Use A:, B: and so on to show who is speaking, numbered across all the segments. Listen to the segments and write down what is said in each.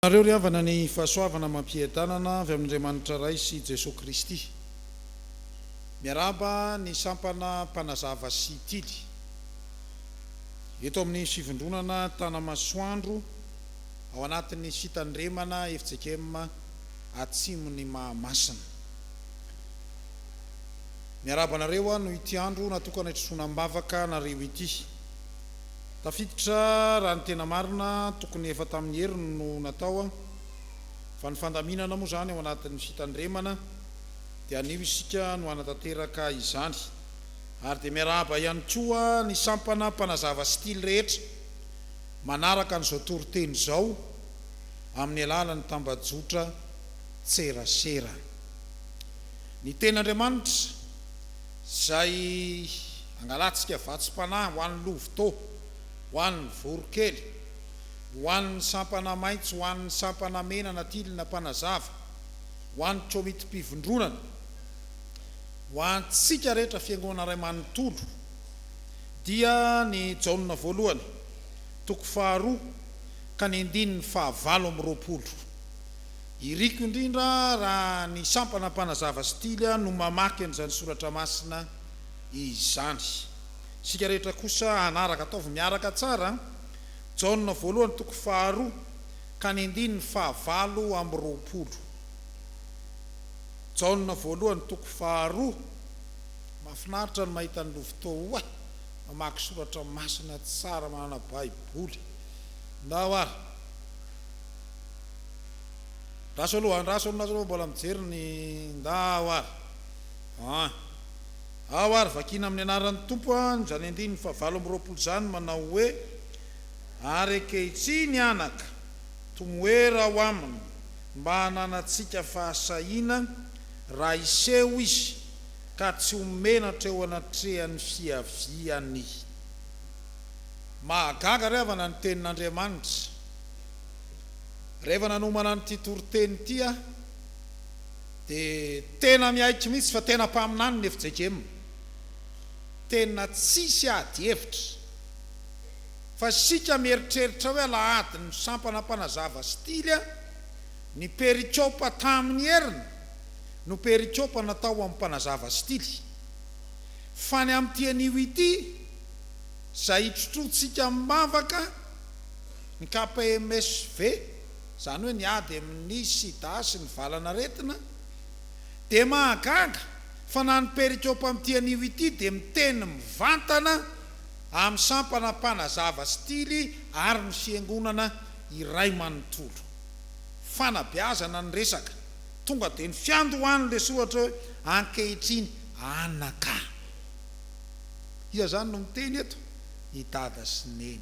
A: Aminareo ry havana ny fahasoavana amam-piadanana avy amin'Andriamanitra Ray sy Jesoa Kristy. Miarahaba ny sampana mpanazava sy tily eto amin'ny Fivondronana Tanamasoandro ao anatin'ny Fitandremana fjkm Atsimon'i Mahamasina. Miarahaba anareo aho noho ity andro natokana hitrosoana am-bavaka anareo ity. Tafiditra raha ny tena marina, tokony efa tamin'ny heriny no natao an, fa ny fandaminana moa izany ao anatin'ny fitandremana dia anio isika no hanatanteraka izany. Ary dia miarahaba ihany koa ny sampana mpanazava style rehetra manaraka an'izao toriteny izao amin'ny alalan'ny tambajotra tserasera. Ny Tenin'Andriamanitra, izay angalantsika vatsim-panahy ho an'ny lovitô, ho an'ny voronkely, ho an'ny sampana maitso, ho an'ny sampana mena na tilina mpanazava, ho an'ny kômitim-pivondronana, ho antsika rehetra Fiangonana iray manontolo, dia ny Jaona Voalohany, toko faharoa ka ny andininy fahavalo amby roapolo. Iriko indrindra raha ny sampana mpanazava sy tily no mamaky an'izany soratra masina izany. Isika rehetra kosa hanaraka, ataovy miaraka tsara, Jaona voalohany toko faharoa ka ny andininy fahavalo amby roapolo. Jaona voalohany toko faharoa. Mahafinaritra ny mahita an'i Lovitô oay, mamaky soratra masina tsara manana baiboly. Ndao ary. Andraso aloha andraso aloha nareo mbola mijery ny nda ao ary an! Ao ary vakiana amin'ny anaran'ny Tompo an! izany andininy fahavalo amby roapolo izany manao hoe, Ary ankehitriny anaka, tomoera ao Aminy mba hananantsika fahasahiana raha hiseho Izy ka tsy ho menatra eo anatrehan'ny fiaviany. Mahagaga ry havana ny Tenin'Andriamanitra. Rehefa nanomana an'ity toriteny ity aho dia tena miaiky mihitsy fa tena mpaminany ny fjkm. Tena tsisy ady hevitra. Fa isika mieritreritra hoe alahady ny sampana mpanazava stily a! Ny perikopa tamin'ny heriny no perikopa natao ho an'ny mpanazava stily. Fa ny amin'ity anio ity, izay itrotroantsika mivavaka, Ny KPMSV, izany hoe ny ady amin'ny sida sy ny valanaretina, dia mahagaga fa na ny perikôpa amin'ity anio ity dia miteny mivantana amin'ny sampana mpanazava stily ary ny fiangonana iray manontolo. Fanabeazana ny resaka, tonga dia ny fiandohan'ny lesoa ohatra hoe ankehitriny anaka. Iza izany no miteny eto? I Dada sy Neny.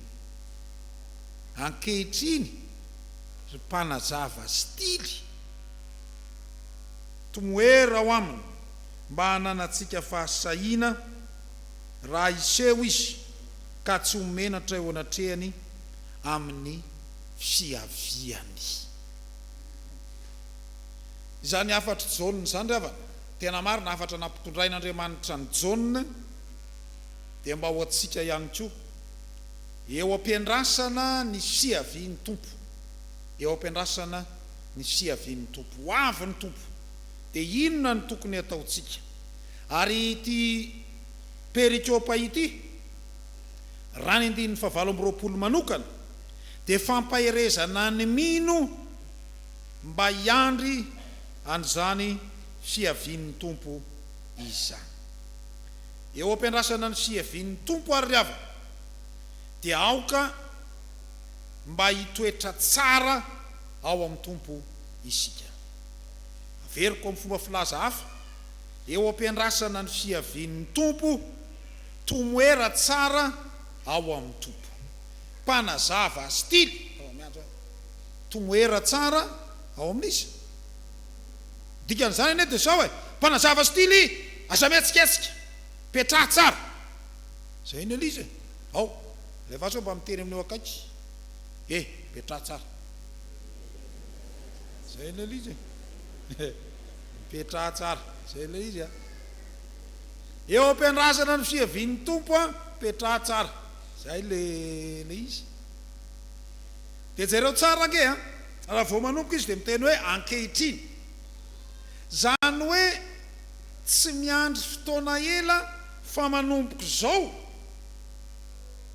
A: Ankehitriny ry mpanazava stily, tomoera ao aminy mba hananantsika fahasahiana raha hiseho izy ka tsy ho menatra eo anatrehany amin'ny fiaviany. Izany hafatr'i Jaona izany ry havana, tena marina hafatra nampitondrain'Andriamanitra an'i Jaona dia mba ho antsika ihany koa. Eo am-piandrasana ny fiavian'ny Tompo. Eo am-piandrasana ny fiavian'ny Tompo. Ho avy ny Tompo. Dia inona no tokony hataontsika? Ary ity perikopa ity, raha ny andininy fahavalo amby roapolo manokana, dia fampaherezana ny mino mba hiandry an'izany fiavian'ny Tompo izany. eo ampiandrasana ny fiavian'ny Tompo ary ry havana dia aoka mba hitoetra tsara ao amin'ny Tompo isika. Averiko amin'ny fomba filaza hafa, eo ampiandrasana ny fiavian'ny Tompo, tomoera tsara ao amin'ny Tompo. Mpanazava style, tomoera tsara ao amin'iza? Dikan'izany anie dia zao e, mpanazava stily aza mihetsiketsika, petraha tsara. Zay ny Eliza e. Ao, ilay vazo mba mitery amin'io akaiky e, petraha tsara. Zay ny Eliza e. Mipetraha tsara. Zay ilay izy a. Eo am-piandrasana ny fiavian'ny Tompo a, petraha tsara. Zay ilay izy. Dia jereo tsara ange an! Raha vao manomboka izy dia miteny hoe ankehitriny. Izany hoe tsy miandry fotoana ela fa manomboka izao,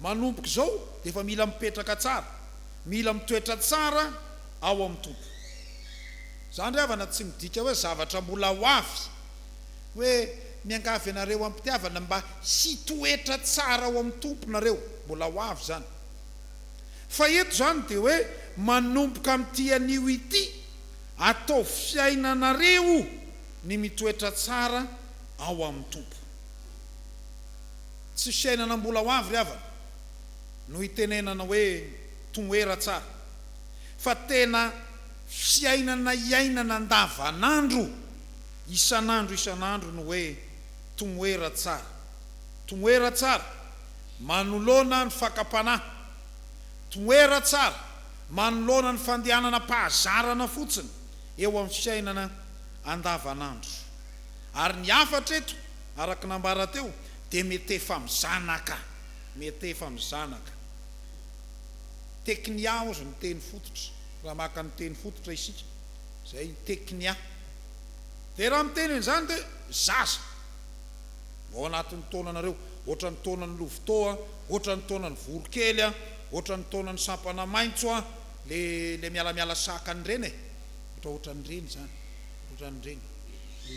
A: manomboka izao dia efa mila mipetraka tsara, mila mitoetra tsara ao amin'ny Tompo. Izany ry havana tsy midika hoe zavatra mbola ho avy, hoe miangavy anareo am-pitiavana mba hitoetra tsara ao amin'ny Tompo nareo, mbola ho avy izany. Fa eto izany dia hoe manomboka amin'ity anio ity, ataovy fiainanareo ny mitoetra tsara ao amin'ny Tompo. Tsy fiainana mbola ho avy ry havana no itenenana hoe toera tsara, fa tena fiainana iainana andavanandro, isan'andro isan'andro no hoe toera tsara. Toera tsara. Manoloana ny fakam-panahy. Toera tsara manoloana ny fandehananam-pahazarana fotsiny eo amin'ny fiainana andavanandro. Ary ny hafatra eto, araka ny ambara teo, dia mety efa mizanaka. Mety efa mizanaka. Teknia hozy ny teny fototra, raha maka ny teny fototra isika. Izay, teknia. Dia raha miteny an'izany dia zaza. Ao anatin'ny taonanareo, ohatran'ny taonan'ny lovitô a, ohatran'ny taonan'ny voronkely a, ohatran'ny taonan'ny sampana maitso a, le le mialamiala saka an'ireny e, ohatra ohatran'ireny zany, ohatran'ireny,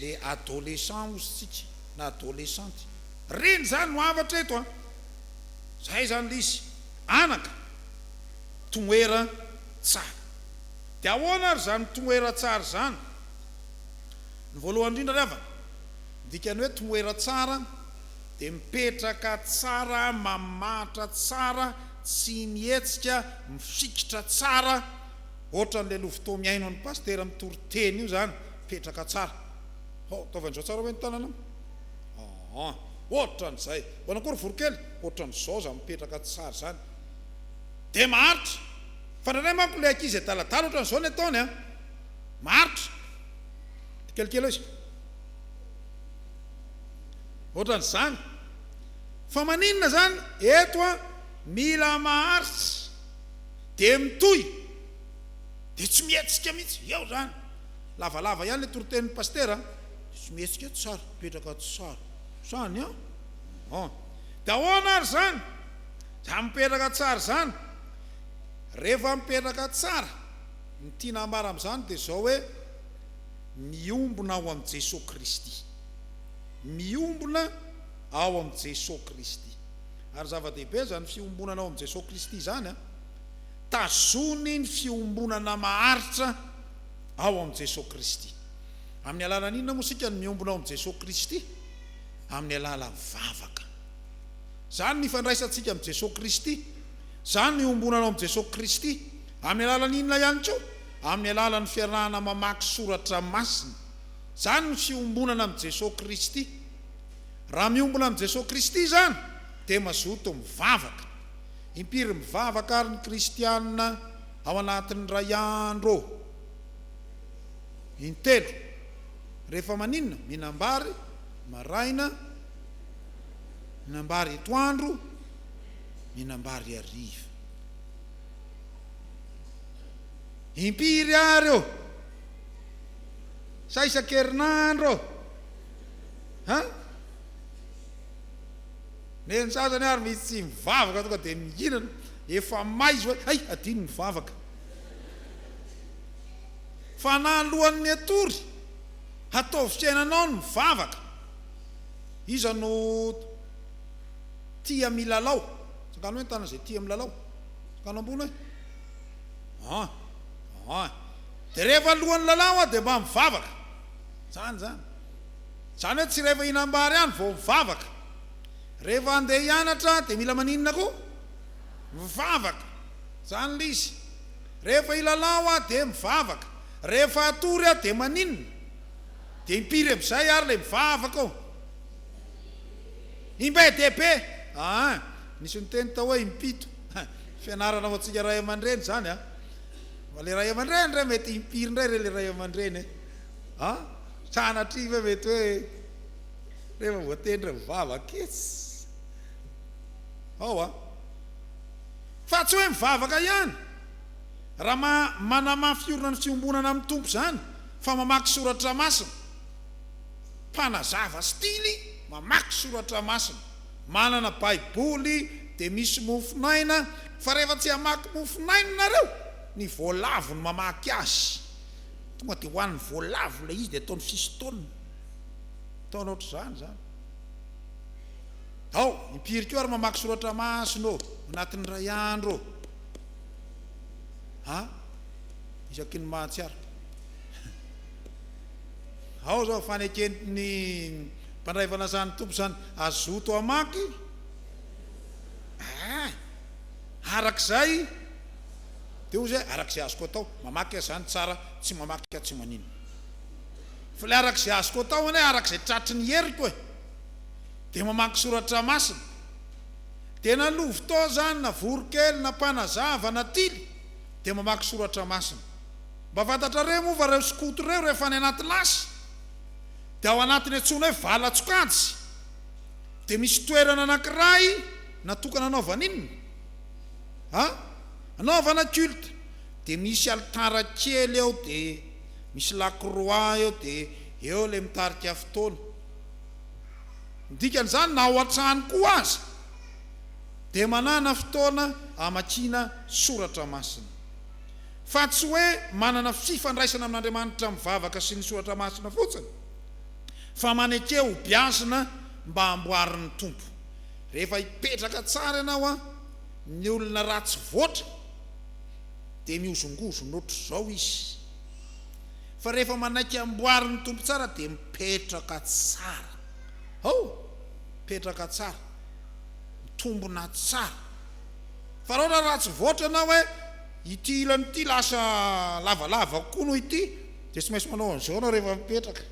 A: le adolescent ozy tsika na adolescente, reny zany no hafatra eto a, zay zany le izy, anaka, tomoera tsara, de ahoana ary zany tomoera tsara zany? Ny voalohany indrindra ry havana, Ny dikan'ny hoe toera tsara dia mipetraka tsara, mamahatra tsara, tsy mihetsika, mifikitra tsara, ohatran'ilay lovotoa mihaino an'i Pasitera mitory teny io izany, mipetraka tsara. Hao, ataovy an'izao tsara ve ny tananao? Aa, ohatran'izay. Manao akory voronkely? Ohatran'izao izany mipetraka tsara izany. Dia maharitra. Fa indraindray manko ilay ankizy adaladala ohatran'izao ny ataony an! Maharitra. Tsikelikely eo izy. Otran zany. Fa maninona zany eto a mila maharitra de mitohy de tsy mihetsika mihitsy eo zany lavalava ihany le toritenin'ny pasitera a de tsy mihetsika eo tsara mipetraka ato tsara zany a an de ahoana ary zany zany mipetraka tsara zany rehefa mipetraka tsara ny tiana ambara amzany de zao hoe Miombona ao amin'i Jesoa Kristy. Miombona ao amin'i Jesoa Kristy. Ary zava-dehibe izany fiombonana ao amin'i Jesoa Kristy izany an! Tazony ny fiombonana maharitra ao amin'i Jesoa Kristy. Amin'ny alalan'ny inona moa isika no miombona ao amin'i Jesoa Kristy? Amin'ny alalan'ny vavaka. Izany no ifandraisantsika amin'i Jesoa Kristy. Izany no iombonana ao amin'i Jesoa Kristy. Amin'ny alalan'ny inona ihany koa? amin'ny alalan'ny fiarahana mamaky soratra masina. Izany no fiombonana amin'i Jesoa Kristy. Raha miombona amin'i Jesoa Kristy izany dia mazoto mivavaka. Impiry mivavaka ary ny kristiana ao anatin'ny iray andro ô? Intelo. Rehefa maninona? Mihinam-bary maraina, mihinam-bary etoandro, mihinam-bary hariva. Impiry ary ô? Sa isan-kerinandro ô? An? Nen'ny sasany ary misy tsy mivavaka tonga dia mihinana, efa may izy hoe hay adino ny vavaka. Fanahy alohan'ny hatory, hataovy fiainanao ny mivavaka. Iza no tia milalao? Tsangano hoe ny tanana izay tia milalao. Tsangano ambony hoe. An! An! Dia rehefa alohan'ny lalao aho dia mba mivavaka. Izany izany. Izany hoe tsy rehefa hihinam-bary ihany vao mivavaka. Rehefa handeha hianatra dia mila maninona koa? Mivavaka. Izany ilay izy. Rehefa hilalao aho dia mivavaka. Rehefa hatory aho dia maninona? Dia impiry amin'izay ary ilay mivavaka ao? Imbe dia be. An! Nisy niteny tao hoe impito. Ha! Fianarana ho antsika ray aman-dreny izany a! Fa ilay ray aman-dreny indray mety impiry indray re ilay ray aman-dreny e! A! Sanatria ve mety hoe rehefa voatendry ny vava kits ao a! Fa tsy hoe mivavaka ihany raha manamafy hiorina ny fiombonana amin'ny Tompo izany fa mamaky soratra masina. Mpanazava stily mamaky soratra masina. Manana baiboly dia misy mofonaina fa rehefa tsy hamaky mofonaina nareo ny voalavo no mamaky azy tonga dia hoan'ny voalavo ilay izy dia ataony fistoana ataony ohatr'izany izany ao impiry koa ary mamaky soratra masina ô anatin'ny iray andro ô a isaky ny mahatsiaro Ao izao ny faneken'ny mpandray fanasan'ny Tompo izany hazoto hamaky eh! araka izay dia hoy izay araka izay azoko atao, mamaky aza izany tsara, tsy mamaky aho tsy maninona. Fa ilay araka izay azoko atao anie araka izay tratry ny heriko eh! dia mamaky soratra masina. Dia na lovitao izany, na voronkely, na mpanazava, na tily dia mamaky soratra masina. Mba fantatrareo moa fa reo skoto reo rehefa any anaty lasy dia ao anatiny antsoina hoe valan-tsokajy dia misy toerana anankiray natokana anaovana inona a? anaovana culte dia misy alitara kely eo dia misy lakroa eo dia eo ilay mitarika fotoana ny dikan'izany na ao an-trano koa aza dia manana fotoana hamakiana soratra masina Fa tsy hoe manana fifandraisana amin'Andriamanitra mivavaka sy ny soratra masina fotsiny, fa maneke ho beazina mba hamboarin'ny Tompo. Rehefa hipetraka tsara ianao an, ny olona ratsy voatra dia mihozongozona ohatr'izao izy, fa rehefa manaiky hamboarin'ny Tompo tsara dia mipetraka tsara. Hoo! Mipetraka tsara. Mitombona tsara. Fa raha ohatra ratsy voatra ianao e! Ity ilany ity lasa lavalava kokoa noho ity dia tsy maintsy manao an'izao ianao rehefa mipetraka.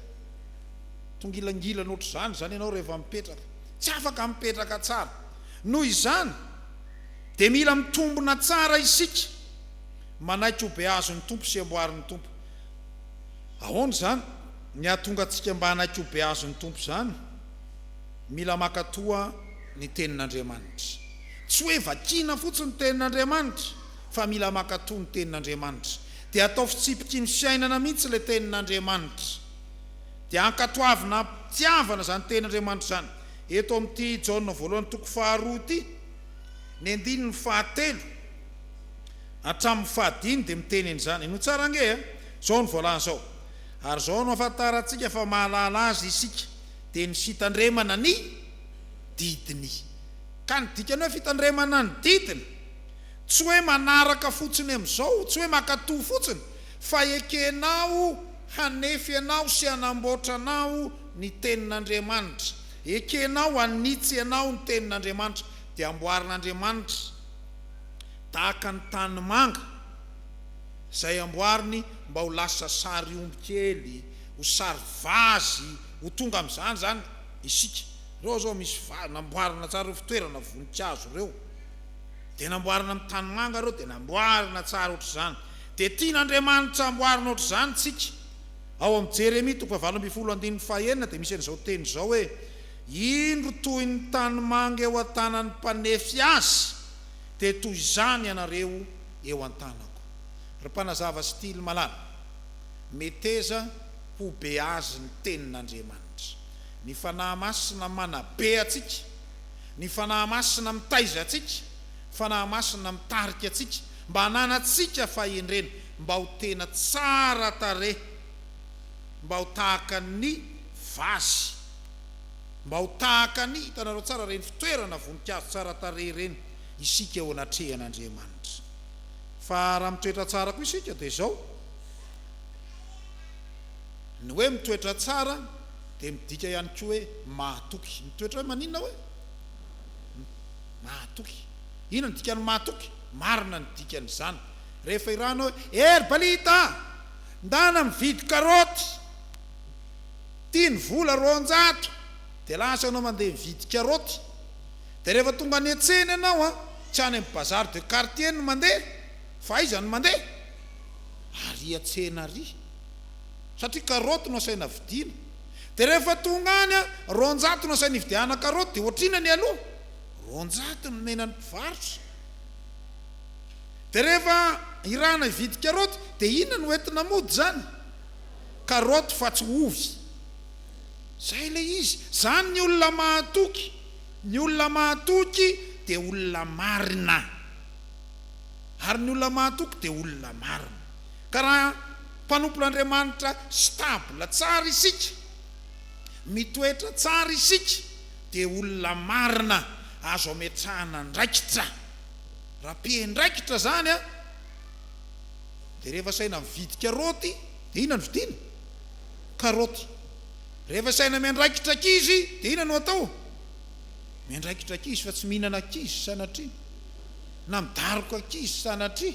A: Tongilangilana ohatr'izany izany ianao rehefa mipetraka. Tsy afaka mipetraka tsara. Noho izany dia mila mitombina tsara isika manaiky ho behazo ny Tompo sy amboary ny Tompo. Ahoana izany ny hahatonga antsika mba hanaiky ho behazo ny Tompo izany? Mila maka toa ny tenin'Andriamanitra. Tsy hoe vakiana fotsiny ny tenin'Andriamanitra fa mila maka toa ny tenin'Andriamanitra. Dia atao fitsipiky ny fiainana mihitsy ilay tenin'Andriamanitra. Dia ankatoavina am-pitiavana izany tenin'Andriamanitra izany. Eto amin'ity Jaona voalohany toko faharoa ity, ny andininy fahatelo hatramin'ny fahadimy dia miteny an'izany. Henoy tsara ange a! Izao no voalaza ao, Ary izao no ahafantarantsika fa mahalala azy isika, dia ny fitandremana ny didiny. Ka ny dikany hoe fitandremana ny didiny, tsy hoe manaraka fotsiny amin'izao, tsy hoe mankatò fotsiny, fa ekenao hanefy anao sy hanamboatra anao ny Tenin'Andriamanitra. Ekenao hanitsy anao ny Tenin'Andriamanitra, dia amboarin'Andriamanitra tahaka ny tanimanga izay amboariny mba ho lasa sary omby kely. ho sary vazy ho tonga amin'izany izany isika. Ireo izao misy vazy, namboarina tsara ireo fitoerana voninkazo ireo, dia namboarina amin'ny tanimanga ireo, dia namboarina tsara ohatr'izany. Dia tian'Andriamanitra hamboarina ohatr'izany isika. Ao amin'ny Jeremia toko fahavalo ambin'ny folo andininy fahenina dia misy an'izao teny izao hoe, Indro toy ny tanimanga eo an-tanan'ny mpanefy azy, dia toy izany ianareo eo an-tanako. Ry mpanazava sy tily malala. Meteza ho be azy ny tenin'Andriamanitra. Ny Fanahy Masina manabe antsika. Ny Fanahy Masina mitaiza antsika. Fanahy Masina mitarika antsika mba hananantsika fahendrena, mba ho tena tsara tarehy, mba ho tahaka ny vazy, mba ho tahaka ny, hitanareo tsara ireny fitoerana voninkazo tsara tarehy ireny, isika eo anatrehan'Andriamanitra. Fa raha mitoetra tsara koa isika dia izao, ny hoe mitoetra tsara dia midika ihany koa hoe mahatoky. Mitoetra hoe maninona hoe? Mahatoky. Inona no dikan'ny mahatoky? Marina ny dikan'izany. Rehefa irahanao hoe, eh ry Balita a! Ndana mividy karaoty! Ity ny vola roanjato! Dia lasa ianao mandeha mividy karaoty. Dia rehefa tonga any an-tsena ianao an, tsy any amin'ny bazar de quartier no mandeha fa aiza no mandeha? Ary an-tsena ary. Satria karaoty no asaina vidiana. Dia rehefa tonga any an, roanjato no asaina hividiahana karaoty dia ohatr'inona ny aloha? Roanjato no nenan'ny mpivarotra. Dia rehefa irahana hividy karaoty dia inona no entina mody izany? Karaoty fa tsy ovy. Izay ilay izy. Izany ny olona mahatoky. Ny olona mahatoky dia olona marina, ary ny olona mahatoky dia olona marina. Ka raha mpanompon'Andriamanitra stable tsara isika, mitoetra tsara isika, dia olona marina azo ametrahana andraikitra. Raha mpiandraikitra izany an, dia rehefa saina mividy karaoty, dia inona no vidiana? Karaoty. Rehefa saina miandraikitra ankizy dia inona no atao? Miandraikitra ankizy fa tsy mihinana ankizy sanatria, na midaroka ankizy sanatria,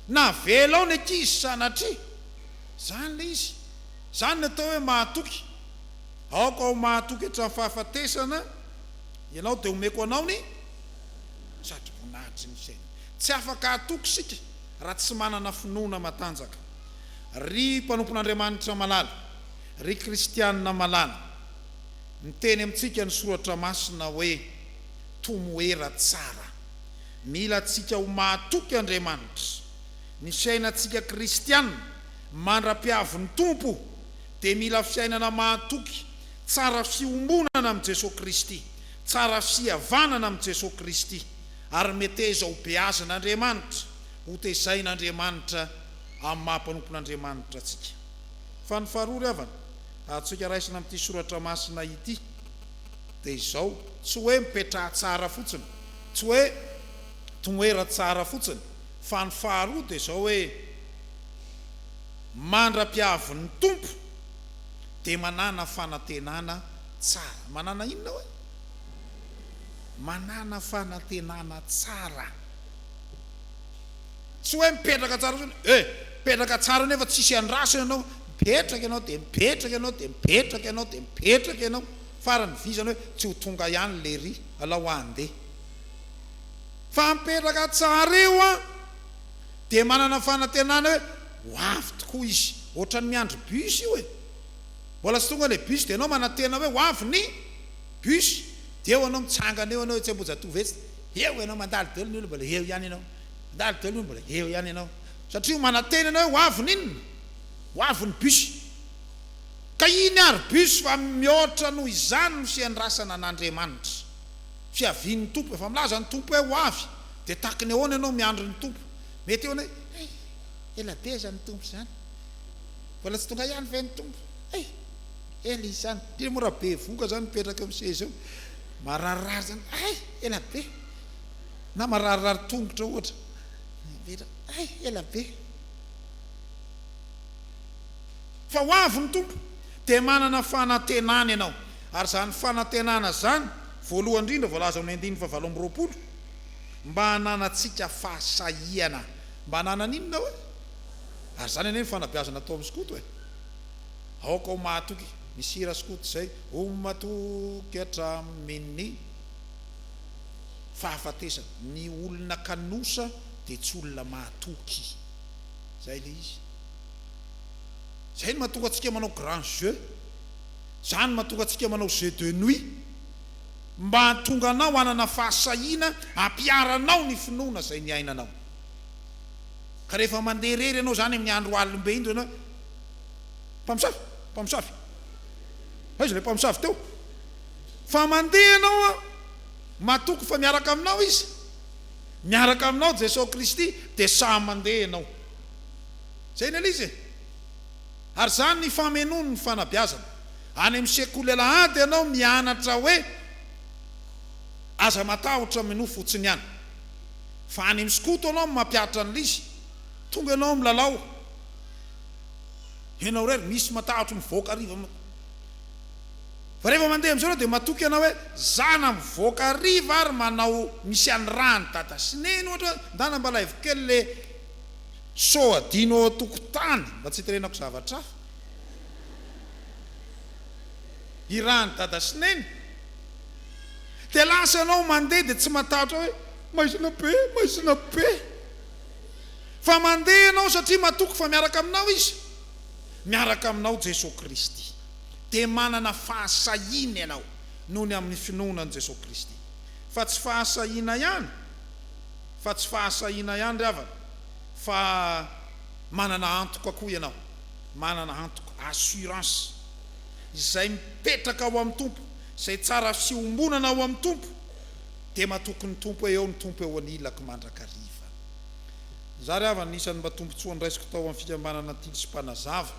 A: na avelao ny ankizy sanatria. Izany ilay izy. Izany no atao hoe mahatoky. Aoka ho mahatoky hatramin'ny fahafatesana ianao dia omeko anao ny sadri-boninahitry ny fiainana. Tsy afaka hatoky isika raha tsy manana finoana matanjaka. Ry mpanompon'Andriamanitra malala. Ry kristianina malala, miteny amintsika ny Soratra Masina hoe, Tomoera tsara. Mila antsika ho mahatoky Andriamanitra. Ny fiainantsika kristianina mandra-piavin'ny Tompo dia mila fiainana mahatoky, tsara fiombonana amin'i Jesoa Kristy, tsara fihavanana amin'i Jesoa Kristy, ary meteza hobeazin'Andriamanitra, hotezain'Andriamanitra amin'ny maha mpanompon'Andriamanitra antsika. Fa ny faharoa ry havana, azontsika raisina amin'ity soratra masina ity, dia izao, tsy hoe mipetraha tsara fotsiny, tsy hoe toera tsara fotsiny, fa ny faharoa dia izao hoe, mandra-pihavin'ny Tompo dia manana fanantenana tsara. Manana inona hoy? Manana fanantenana tsara. Tsy hoe mipetraka tsara fotsiny eh! Mipetraka tsara nefa tsisy andraso ianao, mipetraka ianao dia mipetraka ianao dia mipetraka ianao dia mipetraka ianao, farany vy izany hoe tsy ho tonga ihany lery, alao handeha. Fa mipetraka tsara eo an! Dia manana fanantenana hoe ho avy tokoa izy. Ohatran'ny miandry bus io e! Mbola tsy tonga ilay bus dia ianao manantena hoe ho avy ny bus. Dia eo ianao mitsangana eo ianao etsy Ambohijatovo etsy dia eo ianao mandalo dia eo ny olona mbola eo ihany ianao. Mandalo daholo hoe mbola eo ihany ianao satria manantena ianao hoe ho avy ny inona? Ho avy ny bus. Ka iny ary bus fa mihoatra noho izany no fiandrasana an'Andriamanitra. Fiavian'ny Tompo. Efa milaza ny Tompo hoe ho avy dia tahaky ny ahoana ianao miandry ny Tompo? Mety hihaona hoe hay, ela be izany ny Tompo izany. Mbola tsy tonga ihany ve ny Tompo? Hay, ela izy izany. Indrindra moa raha bevohoka izany mipetraka eo amin'ny seza eo. Marary rariny izany, hay, ela be. na mararirary tongotra ohatra miverina hay ela be fa ho avy ny Tompo dia manana fanantenana ianao ary izany fanantenana izany voalohany indrindra voalaza ao amin'ny andininy fahavalo amby roapolo mba hananantsika fahasahiana mba hananana inona oe? ary izany anie ny fanabeazana atao amin'ny skoto e aoka ho mahatoky misy hira skoto izay ho matoky hatramin'ny fahafatesana. Ny olona kanosa dia tsy olona mahatoky. Izay ilay izy. Izay no mahatonga antsika manao grand jeu. Izany no mahatonga antsika manao jeu de nuit. Mba hahatonga anao hanana fahasahiana hampiharanao ny finoana izay niainanao. Ka rehefa mandeha irery ianao izany amin'ny andro alim-be indro ianao hoe, Mpamosavy! Mpamosavy! Aiza ilay mpamosavy teo? Fa mandeha ianao an! Matoky fa miaraka aminao Izy, miaraka aminao Jesosy Kristy, dia samy mandeha ianao. Izay ny Eliza e! Ary izany ny famenoany ny fanabeazana. Any amin'ny sekoly alahady ianao mianatra hoe aza matahotra minoa fotsiny ihany. Fa any amin'ny skoto ianao mampihatra an'ilay izy. Tonga ianao milalao. Ianao irery misy matahotra mivoaka hariva. Fa rehefa mandeha amin'izao ianao dia matoky ianao hoe, za na mivoaka hariva ary manao misy an'i ra an'i dada sy neny ohatra hoe, ndana mba alaivo kely le so adino ao an-tokotany mba tsy hiterenako zavatra hafa. I ra an'i dada sy neny. Dia lasa ianao mandeha dia tsy matahotra hoe, maizina be, maizina be. Fa mandeha ianao satria matoky fa miaraka aminao izy. Miaraka aminao Jesoa Kristy. dia manana fahasahiana ianao noho ny amin'ny finoana an'i Jesoa Kristy. Fa tsy fahasahiana ihany, fa tsy fahasahiana ihany ry havana, fa manana antoka koa ianao, manana antoka, assurance, izay mipetraka ao amin'ny Tompo, izay tsara fiombonana ao amin'ny Tompo, dia matoky ny Tompo, eo ny Tompo eo anilako mandrakariva. Izaho ry havana, anisan'ny mba tombontsoa noraisiko tao amin'ny fikambanana Tily sy Mpanazava,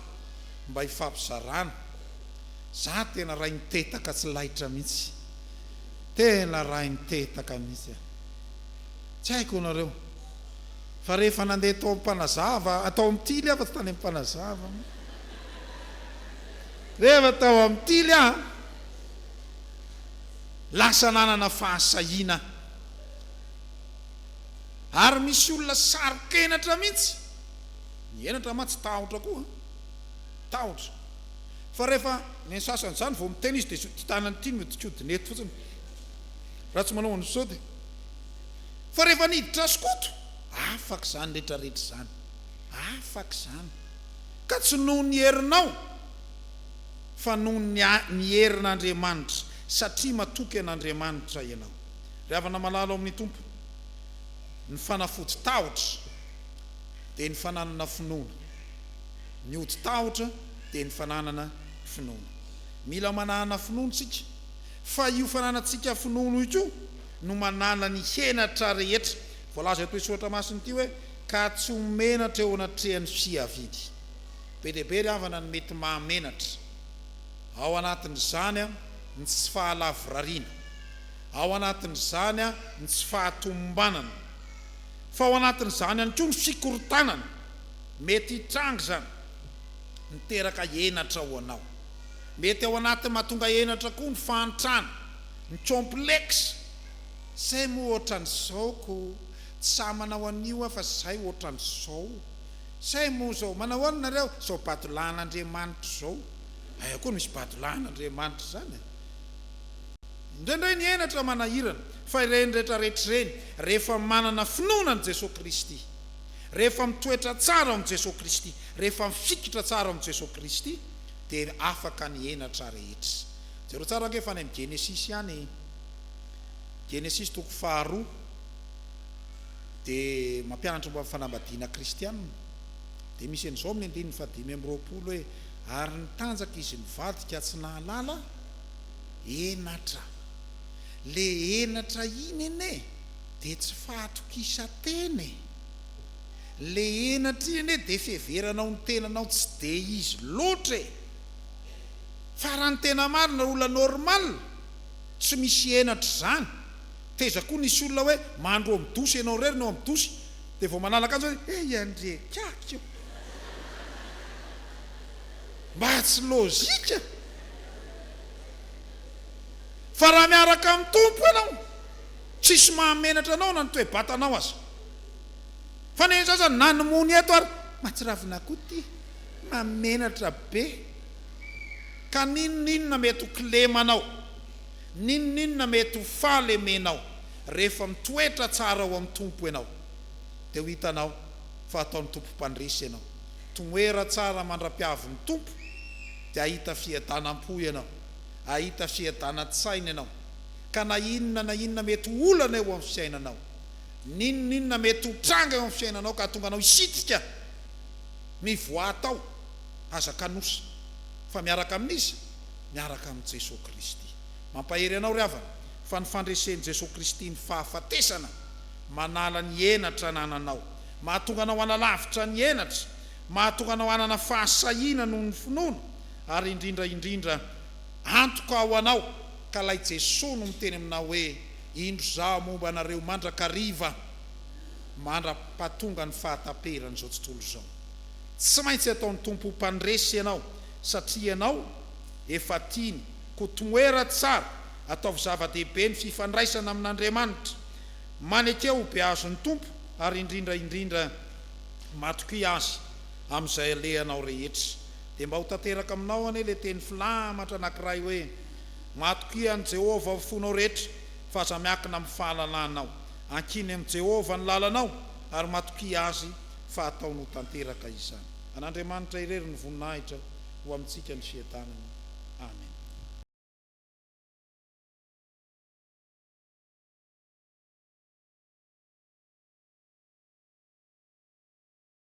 A: Mba hifampizarana. Za tena rainy tetaka tsy laitra mihitsy. Tena rainy tetaka mihitsy a. Tsy haiko anareo. Fa rehefa nandeha tao Ampanazava, tao am tily aho fa tsy tany Ampanazava an. Rehefa tao am tily aho an, lasa nanana fahasahiana aho. Ary misy olona saro-kenatra mihitsy. Ny henatra mantsy tahotra koa. tahotra fa rehefa ny an'ny sasany izany vao miteny izy dia ity tanany ity no hodikodina eto fotsiny raha tsy manao an'izao dia fa rehefa niditra azy Koto afaka izany rehetra rehetra izany afaka izany ka tsy noho ny herinao fa noho ny ny herin'Andriamanitra satria matoky an'Andriamanitra ianao ry havana malala ao amin'ny Tompo ny fanafody tahotra dia ny fananana finoana Ny odi-tahotra dia ny fananana finoana. Mila manana finoana isika, fa io fananantsika finoana io koa no manana ny henatra rehetra. Voalaza eto Soratra Masina ity hoe, Ka tsy ho menatra eo anatrehan'ny fiaviany. Be dia be ry havana ny mety mahamenatra. Ao anatin'izany ny tsy fahalavorariana. Ao anatin'izany ny tsy fahatomombanana. Fa ao anatin'izany ihany koa ny fikorontanana. Mety hitranga izany miteraka henatra ho anao. Mety ao anatin'ny mahatonga henatra koa ny fahantrana, ny complexe, Zay moa ohatran'izao ko, tsy sahy manao an'io aho fa zay ohatran'izao. Zay moa izao, manao ahoana nareo? Izao badolahin'Andriamanitra izao. Aiza koa no misy badolahin'Andriamanitra izany e? Indraindray ny henatra manahirana, fa ireny rehetra rehetra ireny, rehefa manana finoana an'i Jesoa Kristy. Rehefa mitoetra tsara ao amin'i Jesoa Kristy, rehefa mifikitra tsara ao amin'i Jesoa Kristy, dia afaka ny henatra rehetra. Jereo tsara ange fa any amin'ny Genesisy ihany, Genesisy toko faharoa, dia mampianatra momba ny fanambadiana kristiana, dia misy an'izao amin'ny andininy fahadimy amby roapolo hoe, Ary nitanjaka izy mivady ka tsy nahalala henatra. Ilay henatra iny anie. Dia tsy fahatokisantena e! Le henatra iny anie dia fiheveranao ny tenanao tsy dia izy loatra e! Fa raha ny tena marina olona normal tsy misy henatra izany, taiza koa nisy olona hoe mandro eo amin'ny douche ianao irery no eo amin'ny douche dia vao manala akanjo hoe he i Andriey kiaky io! Mba tsy lojika! Fa raha miaraka amin'ny Tompo ianao, Tsisy mahamenatra anao na ny toe-batanao aza. Fa ny sasany na ny mony eto ary matsiravina koa ty mahamenatra be. Ka n'inon'inona mety ho kilema anao, n'inon'inona mety ho fahalemenao rehefa mitoetra tsara ao amin'ny Tompo ianao dia ho hitanao fa ataon'ny Tompo mpandresy ianao. Tomoera tsara mandra-piavin'ny Tompo dia hahita fiadanam-po ianao, hahita fiadanan-tsaina ianao. ka na inona na inona mety ho olana eo amin'ny fiainanao, n'inon'inona mety ho tranga eo amin'ny fiainanao ka hahatonga anao hisitrika ny voà atao, aza kanosa fa miaraka amin'iza? Miaraka amin'i Jesoa Kristy. Mampahery anao ry havana fa ny fandresen'i Jesoa Kristy ny fahafatesana manala ny henatra anananao, mahatonga anao hanalavitra ny henatra, mahatonga anao hanana fahasahiana noho ny finoana ary indrindra indrindra antoka ho anao, Ka lay Jesoa no miteny aminao hoe indro zaho momba anareo mandrakariva mandrapatonga ny fahataperan izao tontolo izao. Tsy maintsy ataony Tompo ho mpandresy ianao satria ianao efa tiany ko toera tsara ataovy zava dehibe ny fifandraisana amin Andriamanitra. Maneke ho beazo ny Tompo ary indrindra indrindra matokia Azy amin izay alehanao rehetra. Dia mba ho tanteraka aminao anie le teny filamatra anakiray hoe. Matokia an'i Jehovah amin'ny fonao rehetra, fa aza miankina amin'ny fahalalanao. Ankiny amin'i Jehovah ny lalanao, ary matokia azy fa hataony ho tanteraka izany. An'Andriamanitra irery ny voninahitra ho amintsika ny fiadanana. Amena.